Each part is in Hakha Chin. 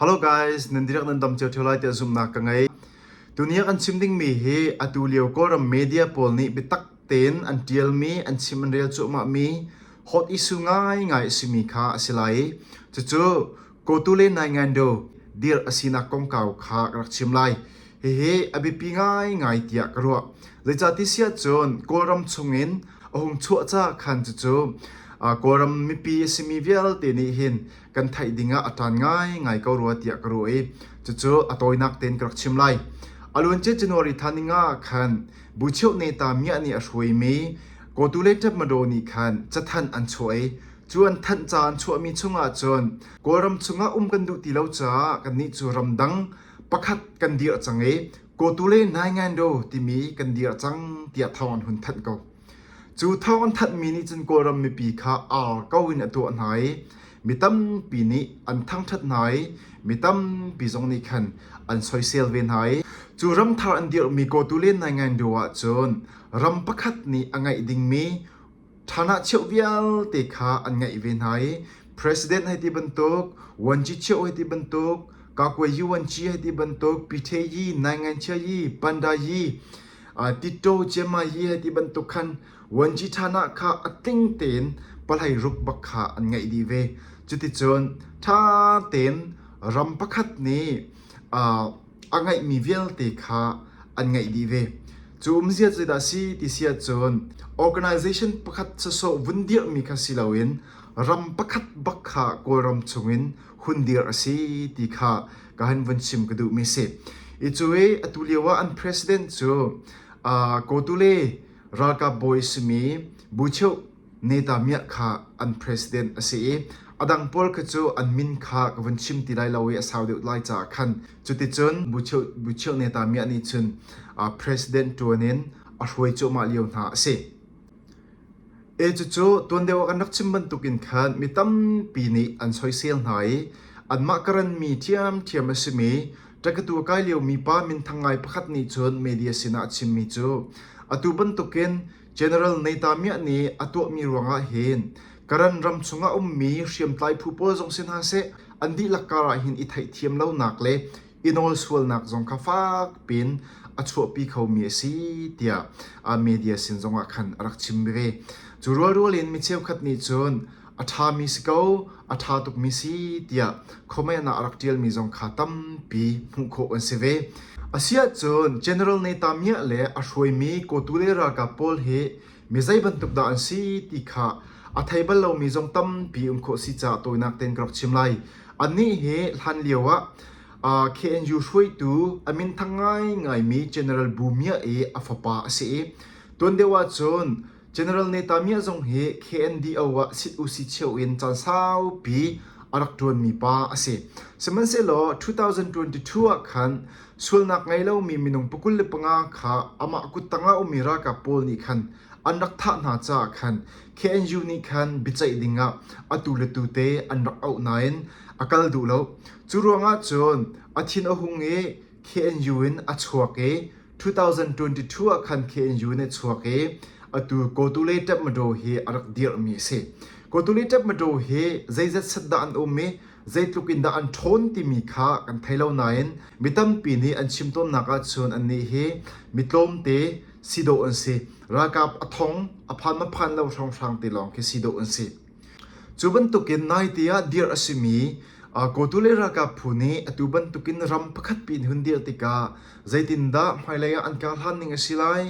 Hello guys, nan dirak nan dam cio ṭheo lai tiah zumhnak ka ngei. Tuni ah kan chim dingmi hi atu lio Kawlram media pawl nih biatak tein an ṭialmi, an chim an rel cuahmahmi hot issue ngaingai a simi kha a si lai i cucu kotu le nai ngan do dir a sinak kongkau kha ka rak chim lai. Hihi a biapi ngaingai tiah ka ruah. Zeicati siah cun Kawlram chungin a hung chuahca khan cucu uh, Kawlram mipi a simi vialte nih hin kan theih dingah a ṭan ngaingai ko rua tiah ka ruah i cucu a tawinak tein ka rak chim lai. A luancia January thla ningah khan bucheu neta miah nih a hruaimi kotu le ṭepmado nih khan cathanh an chuah i cu an thanh ca an chuahmi chungah cun Kawlram chungah um kan duh ti lo caah kannih cu ramdang pakhat kan dirh cang i kotu le nai ngan do timi kan dirh cang tiah thawng an hun thanh ko. Cu thawng an thanhmi nih cun Kawlram mipi kha ar ko in a tuah hna i mi tampi nih an thangṭhat hna i mi tampi zong nih khan an soisel ve hna i cu ramthar an dirhmi kawtu len nai ngain deuh ahcun ram pakhat nih a ngeih dingmi ṭhanahcheuh vialte kha an ngeih ve hna i President hei ti bantuk, Wanchecheu hei ti bantuk, Kakwe Yuanci hei ti bantuk, Piteyi, Nainganchia yi, Pandayi Tito ciama hi hi ti bantuk khan vuanci ṭhanak kha a tling tein palhei ruk bak kha an ngeih dih ve. Cuticun ṭha tein ram pakhat nih a ngeihmi vialte kha an ngeih dih ve. Cu umzia cu dah si ti si ahcun organization pakhat sawsawh vun dirhmi kha si loin ram pakhat bak kha Kawlram chungin hun dir a si ti kha ka han vun chim ka duhmi si. I cu i atu lio ah an president cu uh, kotule ralkap bawi simi bucheu neta miah kha an president a si i adang pol kha cu an min kha ka vun chim ti lai lo i a sau deuh lai ca khan cuticun bucheu bucheu neta miah nih cun uh, president tuanin a hruai cuahmah lio hna a si. E cucu tuan deuh ah kan rak chim bantukin khan mi tampi nih an soisel hna i anmah ka ranmi ṭhiamṭhiam a simi ṭakatu a kai liomi pa minthang ngai pakhat nih cun media sinah a chimmi cu atu bantukin General Neitamiah nih a tuahmi ruangah hin Karan ram chungah a ummi hriamtlai phu pawl zong si hna seh an dihlak karah hin i theihthiam lonak le i nawl sualnak zong kha fakpi in a chuahpi khomi a si tiah a media sin zongah khan a rak chim ve. Cu rualrual in mi cheukhat nih cun a ṭhami si ko, a ṭha tukmi si tiah khomeihnak a rak ṭialmi zong kha tampi hmuh khawh an si ve. Asiahcun General Netanyahu le a hruaimi kawtu le ralkap pawl hi mi zei bantuk dah an si ti kha a thei bal lomi zong tampi um khawh si caah tawinak tein ka rak chim lai. Annih hi hlan lio ah uh, KNU hruaitu a minthang ngaingaimi General Bu Mia i a fapa a si i tuan deuh ahcun General Neta Mia zong hi KNDO ah sit u si cheu in caan saupi a rak ṭuanmi pa a si. Sihmanhsehlaw 2022 ah khan Sualnak ngei lomi minung pakul le panga kha amah kut tangah a ummi ralkap pawl nih khan an rak thah hna caah khan KNU nih khan biaceih dingah atu le tute an rak auh nain a kal duh lo. Cu ruangah cun a thin a hung i KNU in a chuak i 2022 ah khan KNU in a chuak i atu Kotule Tapmadaw hi a rak dirhmi a si. Kotule Tapmadaw hi zeizat set dah an um i zeitluk in dah an ṭhawn timi kha kan thei lo nain mi tampi nih an chim tawnnak ahcun annih hi mi tlawmte si dawh an si ralkap a thong a phan maphan lo hrawnghrang te lawng khi si dawh an si cu bantukin naite ah dirh a simi kotu le ralkap phu nih atu bantukin ram pakhat pi in hun dirh tikah zeitindah hmailei ah an kar hlan ning a si lai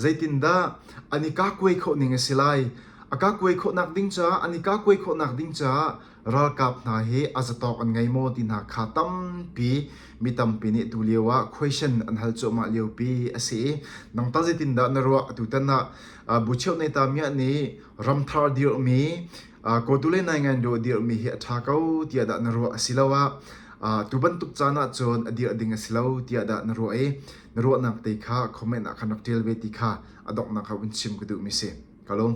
zeitindah an i kakuai khawh ning a si lai a kakuai khawhnak ding caah an i kakuai khawhnak ding caah Ralkap hna hi a zatawk an ngei maw ti hna kha tampi mi tampi nih tu lio ah question an hal cuahmah liopi a si i nangtah zeitindah na ruah tutan ah uh, bu cheu nei ta miah nih ramthar dirmi uh, kotu le nai ngan do dirmi hi a tha ko tiah dah na ruah a si lo ah uh, tu bantuk caan ah cun a dir ding a si lo tiah dah na ruah i na ruahnak te kha comment ah khan rak tial ve ti kha a donghnak kha un chim ka duh mi si kalung